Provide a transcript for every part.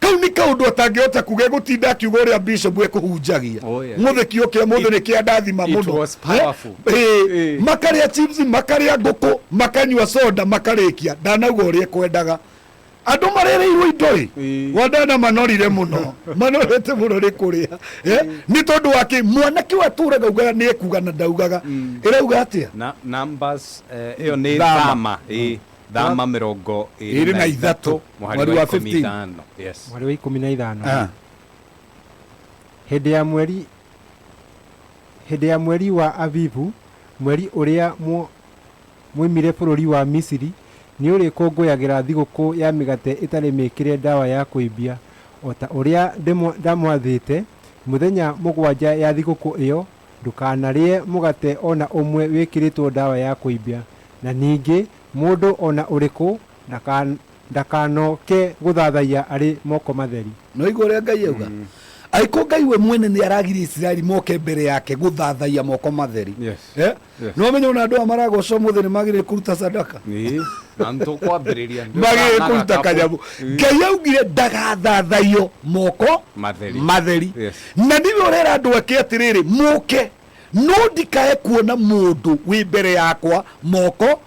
kau nĩ kaũndũ atangĩhota kuga gũtinda akiuga ũrĩa bishop ekũhunjagia oh, yeah. mũthĩ kiugo kĩa mũthĩ nĩ kĩa ndathima mũno eh? eh, makarĩa chips makarĩa ngũkũ makanyua soda makarĩkia ndanauga ũrĩa ekwendaga andå marereirwo indo ä eh. wandana manorire må no manorete må no nä kå rä a eh? eh. nä tondå wakä mwanake wa tå raga ugaga nä ekuga na ndaugaga mm. ä rauga atä a ä yo nä thama mm. thama mĩrongo ĩrĩ na ithatũ mweri wa ikũmi ithano mweri wa ikũmi na ithano ah. hĩndĩ ya mweri hĩndĩ ya mweri wa avivu mweri ũrĩa mwoimire bũrũri wa misiri nĩ ũrĩkũngũyagĩra thigũkũ ya mĩgate ĩtarĩ mĩkĩre ndawa ya kũimbia o ta ũrĩa ndamwathĩte mũthenya mũgwanja ya thigũkũ ĩyo Ndũkanarĩe mũgate o na ũmwe wĩkĩrĩtwo ndawa ya kũimbia, na ningĩ mũndũ o na ũrĩkũ ndakanoke gũthathaiya arĩ moko matheri. Nĩwaigua ũrĩa Ngai auga? Angĩkorwo Ngai we mwene nĩaragiria Isiraeli moke mbere yake gũthathaiya moko matheri, Yes. nä wamenya ona andå aya maragocwo må thä nä magä kuruta sadaka Ĩĩ, na nĩ tũkwambĩrĩria nĩ magä tũkanaga kuruta kabu- kanyamå Ĩĩ. ngai augire ndagathathaiyo moko Matheri. matheri Yes. na niwe å rera andå ake atä rä rä må ke no ndikae kuona må ndå wä mbere yakwa moko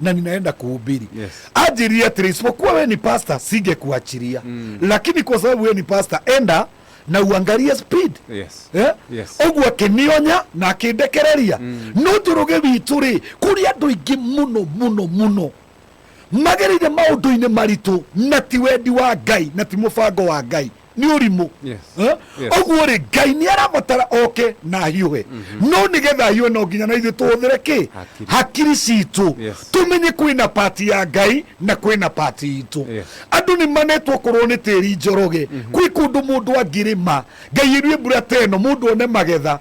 na ninaenda kuhubiri Yes. ajiri atiri isipokuwa we ni pasta singekuachilia mm. lakini kwa sababu we ni pasta enda na uangalie speed Yes. Eh? Yes. ũguo akĩnionya na akĩndekereria no njũrũge witũ rĩ kũrĩ andũ aingĩ mũno mũno mũno magereire maũndũ-inĩ maritũ na ti wendi wa ngai na ti mũbango wa ngai nĩ ũrimũ Yes. Eh? Yes. ũguo rĩ ngai nĩ arabatara oke na ahiũhe no nĩ getha ahiũhe no nginya na ithuĩ tũhũthĩre kĩ Hakiri. hakiri citũ Yes. tũmenye kwĩna pati ya ngai na kwĩna pati itũ Yes. andũ nĩ manetwo korwo nĩ tĩri njoroge kwĩ kũndũ mũndũ angĩrĩma ngai ĩruĩ mbura teno mũndũ one magetha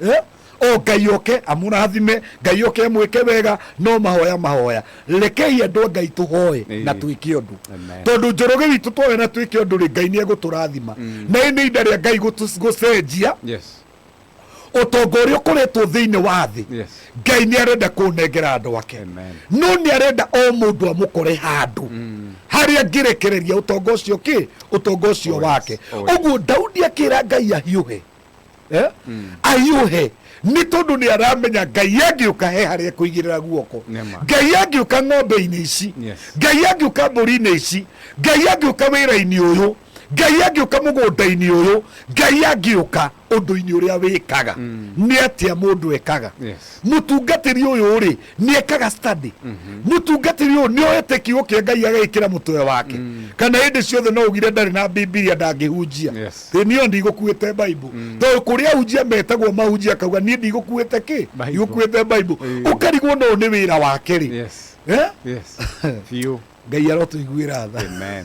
Eh? o ngai oke amũrathime ngai oke amwĩke wega no mahoya mahoya rekei andũ a ngai tũhoe Ĩĩ. na twĩke ũndũ Amen. tondũ njoroge witũ twoya na twĩke ũndũ rĩ ngai nĩ egũtũrathima na ĩ nĩ inda rĩa ngai gũtũ- gũcenjia yes ũtonga ũrĩa ũkoretwo thĩinĩ wa thĩ yes ngai nĩ arenda kũnengera andũ ake Amen. no nĩ arenda o mũndũ amũkore handũ harĩa ngĩrekereria ũtonga ũcio kĩ ũtonga ũcio Oh, yes. wake Oh, yes. ũguo daudi akĩra ngai ahiũhe Eh? ahiũhe nĩ tondũ nĩ aramenya ngai angĩũka he harĩa kũigĩrĩra guoko Nema. ngai angĩũka ng'ombe-inĩ ici Yes. ngai angĩũka mbũri-inĩ ici ngai angĩũka wĩra-inĩ ũyũ ngai angĩũka mũgũnda-inĩ ũyũ ngai angĩũka ũndũ-inĩ ũrĩa wĩkaga nĩ atĩa mũndũ ekaga Yes. mũtungatĩri ũyũ rĩ nĩekaga study mũtungatĩri ũyũ nĩoete kiugo kĩa ngai agagĩkĩra mũtwe wake kana hĩndĩ ciothe no ũgire ndarĩ na bibilia ndangĩhunjia Yes. ĩ niyo ndigũkuĩte baibo tondũ kũrĩa ahunjia metagwo mahunjia akauga niĩ ndigũkuĩte kĩ Bible. ndigũkuĩte baibo Ĩĩ. ũkarigwo no nĩ wĩra wake rĩ yes Eh? yes biũ ngai arotũiguĩra tha amen